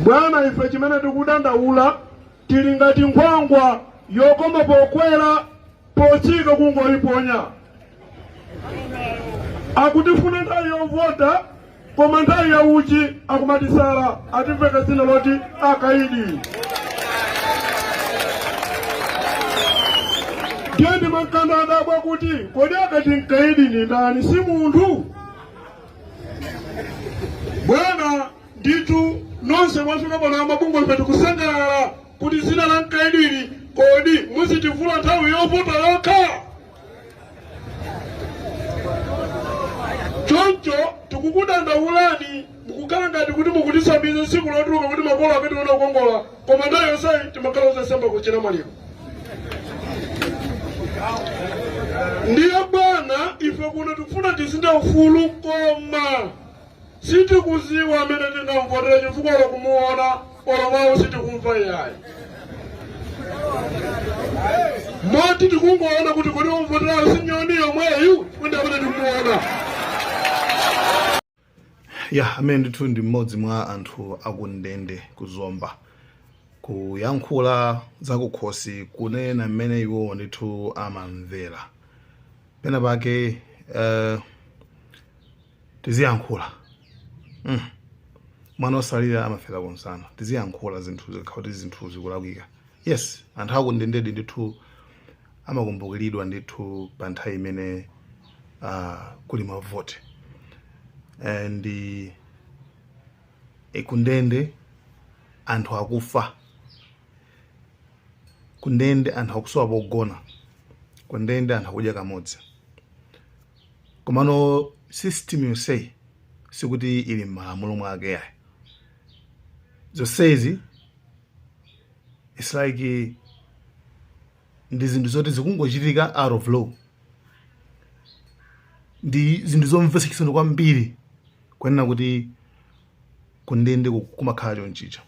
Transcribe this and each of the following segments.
Bwana, ife chimene tikudandaula tili ngati nkhwangwa yokoma pokwera potsika kungoyiponya. Akutifuna nthawi yovota koma nthawi ya ntchito akumatisala atimveka dzina loti akaidi. Ndiye ndimakhala ndadabwa kuti kodi akati mkaidi ni ndani si munthu? Bwana Ndithu nonse mwafika pano amabungwe ife tikusangalala kuti dzina la mkaidi ili kodi muzitivula nthawi yovota yokha choncho tikukudandaulani mukukhala ngati kuti mukutisambiza tsiku lotuluka kuti makolo akatione kukongola koma nthawi yonseyi timakhala osasamba kutchena maliro ndiye bwana ife kuno tikufuna tizinde ufulu koma Sitikuziwa amene tingamuvotere chifukwa olo kumuona olo mau sitikumva iyayi. Moti tikungoona kuti kodi womvoterayo si Nyoni yemweyu chifukwa ndi amene tikumuona. ya amene ndithu ndi mmodzi mwa anthu akundende ku Zomba kuyankhula zakukhosi kunena mmene iwowo ndithu amamvera pena pake eh, Tiziyankhula mm mwana osalira amafera kunsana tiziyankhula zinthu zikakhala kuti zinthu zikulakwika yes anthu akundendedi ndithu amakumbukiridwa ndithu pa nthawi imene uh, kuli mavote and e, kundende anthu akufa kundende anthu akusowa pogona kundende anthu akudya kamodzi Komano system yonseyi sikuti ili m'malamulo mwake iyayi. Zonsezi it's like ndi zinthu zoti zikungochitika out of law. Ndi zinthu zomvetsa chisoni kwambiri kunena kuti kundende kumakhala chonchicha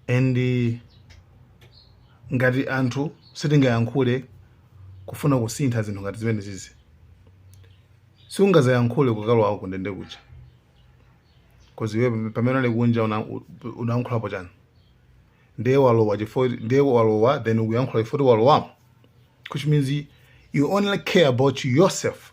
and ngati anthu sitingayankhule kufuna kusintha zinthu ngati zimene zizi siungazayankhule ukalowa kundende kuja kozi iwe pamene unali kunja unayankhulapo chani ndiye walowa chifukwa ndiye walowa then ukuyankhula chifukwa choti walowamo which means you only care about yourself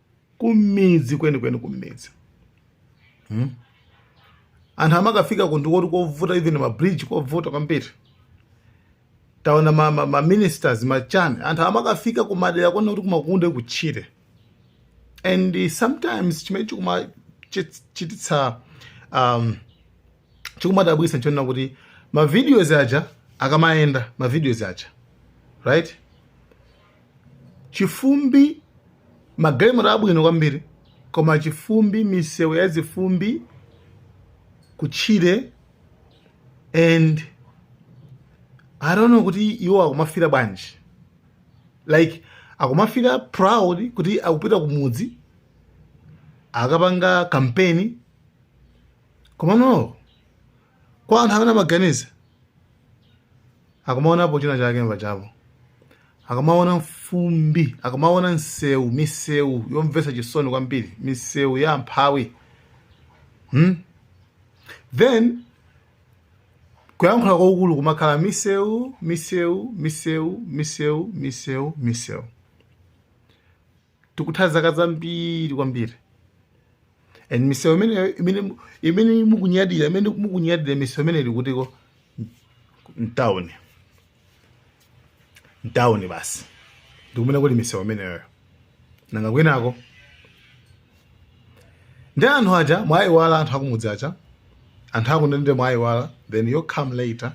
kumidzi kwenikweni kumidzi hmm? anthu amakafika kundikokuti kovuta even mabridge kovuta kwambiri taona maministers ma, ma machani anthu amakafika kumadera kuona kuti kumakundu kutchire and sometimes chimene chikumachititsa um, chikumadabwitsa nchonena kuti ma videos aja akamayenda ma videos aja right chifumbi magalimoto abwino kwambiri koma chifumbi misewu ya zifumbi kutchire and i don't know kuti iwo akumafira bwanji like akumafira proud kuti akupita kumudzi akapanga campaign komano kwa anthu amene amaganiza akumaonapo china chake mbachapo akumaona fumbi akumaona msewu misewu yomvetsa chisoni kwambiri misewu ya amphawi hmm? then kuyankhula kwakukulu kumakhala misewu misewu misewu misewu misewu misewu tikutha zaka zambiri kwambiri and misewu imeneyo imene imene mukunyadira imene mukunyadira misewu imene ili kutiko mtawuni mtawuni basi ndikumene kuli misewu imeneyoyo nanga kwinako ndi anthu aja mwaiwala anthu akumudzi aja anthu akundende mwaiwala then you come later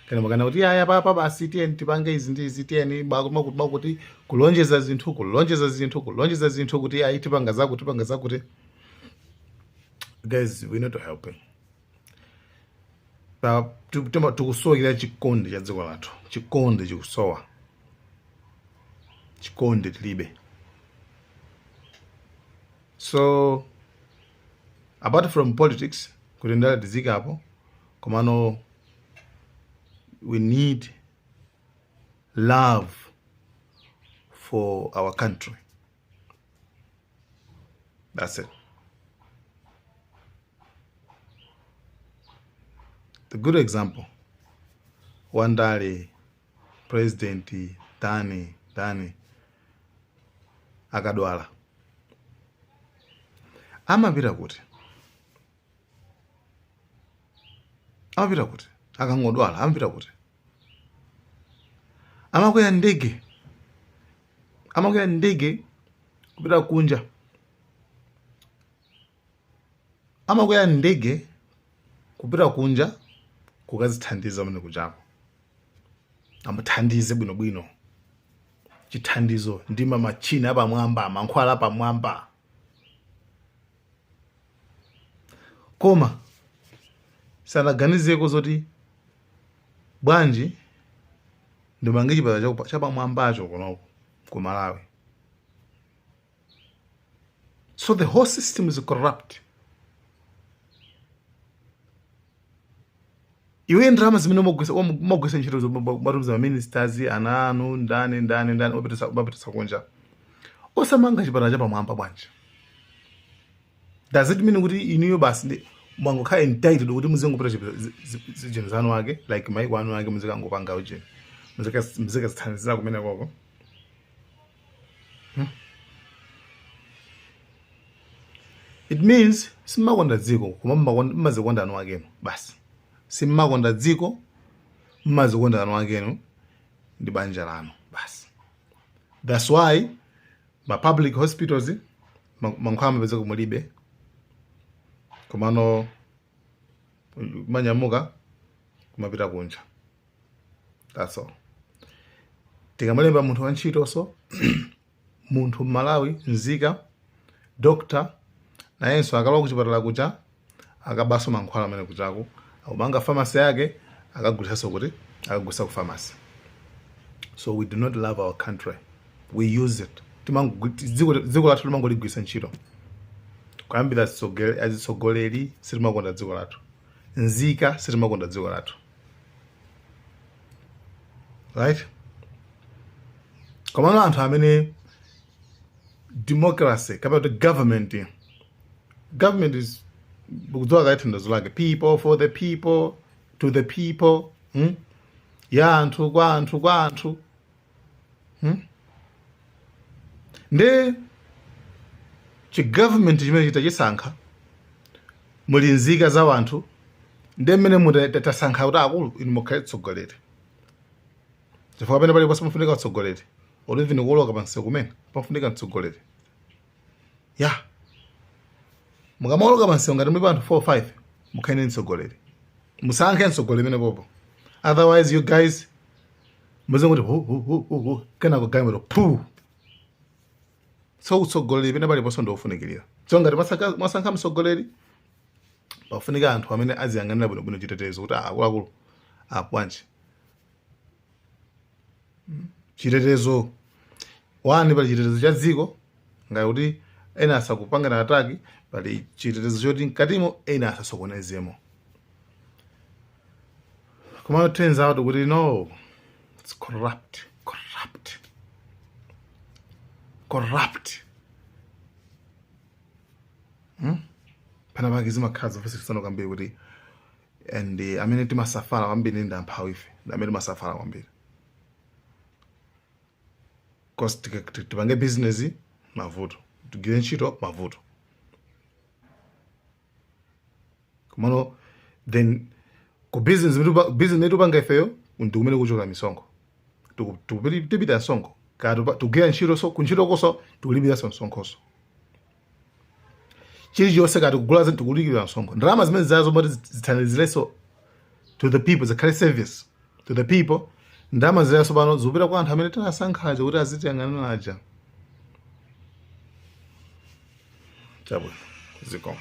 kana makana kuti ayi apapa basi tiyeni tipange izi ndi izi tiyeni bakuma kuti bakuti kulonjeza zinthu kulonjeza zinthu kulonjeza zinthu kuti ayi tipanga zakuti tipanga zakuti guys we're not helping. Pa- tu- tima- tikusowekera chikondi cha dziko lathu chikondi chikusowa chikondi tilibe so apart from politics kuti ndale tizikapo komano we need love for our country that's it the good example wandale president ndani ndani akadwala amapita kuti amapita kuti akangodwala amapita kuti amakwera ndege amakwera ndege kupita kunja amakwera ndege kupita kunja kukazithandiza mene kuchako amuthandize bwinobwino chithandizo ndi mamachina apamwamba mankhwala apamwamba koma sanaganizeko zoti bwanji ndimange chipatala chapamwambacho kunoko ku malawi So the whole system is corrupt. iwe ndalama zimene umagwisa ntchito zomatumiza maministers ana anu ndani ndani ndani umapitisa kunja osamanga chipatala chapamwamba bwanji does it mean kuti inuyo basi mwangokhala entitled kuti muzingopita zinthu zanu ake like maiko anu ake muzikangopanga ujeni muzikazithandizira kumene koko it means simmakonda dziko koma mmazikonda anu akenu basi simmakonda dziko mmazikonda anu akenu ndi banja lanu basi that's why ma public hospitals mankhwala amapezeka mulibe komano manyamuka kumapita kunja that's all tikamalemba munthu wantchitonso munthu mmalawi nzika doctor nayenso akalowa kuchipatala kucha akabaso mankhwala amene kuchako akumanga famasi yake akagulisanso kuti akagulisa ku famasi so we do not love our country we use it dziko lathu timangoligwirisa ntchito kuyambira azitsogoleri sitimakonda dziko lathu nzika sitimakonda dziko lathu right komano anthu amene democracy kapena kuti government government is kudziwa kaye thandauzo lake people for the people to the people hmm? ya anthu kwa anthu kwa anthu hmm? nde chigovernment chimene chitachisankha muli nzika za wanthu nde mmene mutasankha kuti akulu inu mukhale tsogoleri chifukwa pamene paliponse pafunika utsogoleri olo even kuoloka pansi kumene pafunika mtsogoleri ya yeah. mukamaoloka pansi ngati mulipo anthu 4 5 mukhale ndi mtsogoleri musankhe mtsogoleri pamene popo otherwise you guys muzingoti hu hu hu hu hu kenako galimoto phu so utsogoleri pena paliponse ndiofunikirira so ngati mwasaka- mwasankha mtsogoleri pafunika anthu amene aziyang'anira bwinobwino chitetezo kuti akuluakulu bwanji chitetezo wani pali chitetezo cha dziko ngati kuti ena asakupangana ataki pali chitetezo choti mkatimo ena asasokonezemo koma it turns out kuti no it's corrupt corrupt corrupt hmm? pena pake zimakhala zomvetsa chisoni kwambiri kuti and uh, amene timasafala kwambiri ndi amphawi ife ndi amene timasafala kwambiri cause tipange business mavuto tigwire ntchito mavuto komano then ku business imene tupa- business imene tupanga ifeyo ndi kumene kuchokera misonkho Tiku- tikupili- tipita msonkho kaya tupa- tugwira ntchito so kuntchito koso tikulipiranso msonkhoso chilichonse kaya tikugula zinthu tikulipiranso msonkho ndalama zimenezozo moti zithandizirenso to the people zikhale service to the people ndalama zija tsopano zikupita kwa anthu amene tinasankhaja kuti azitiyang'anira aja chabwino zikomo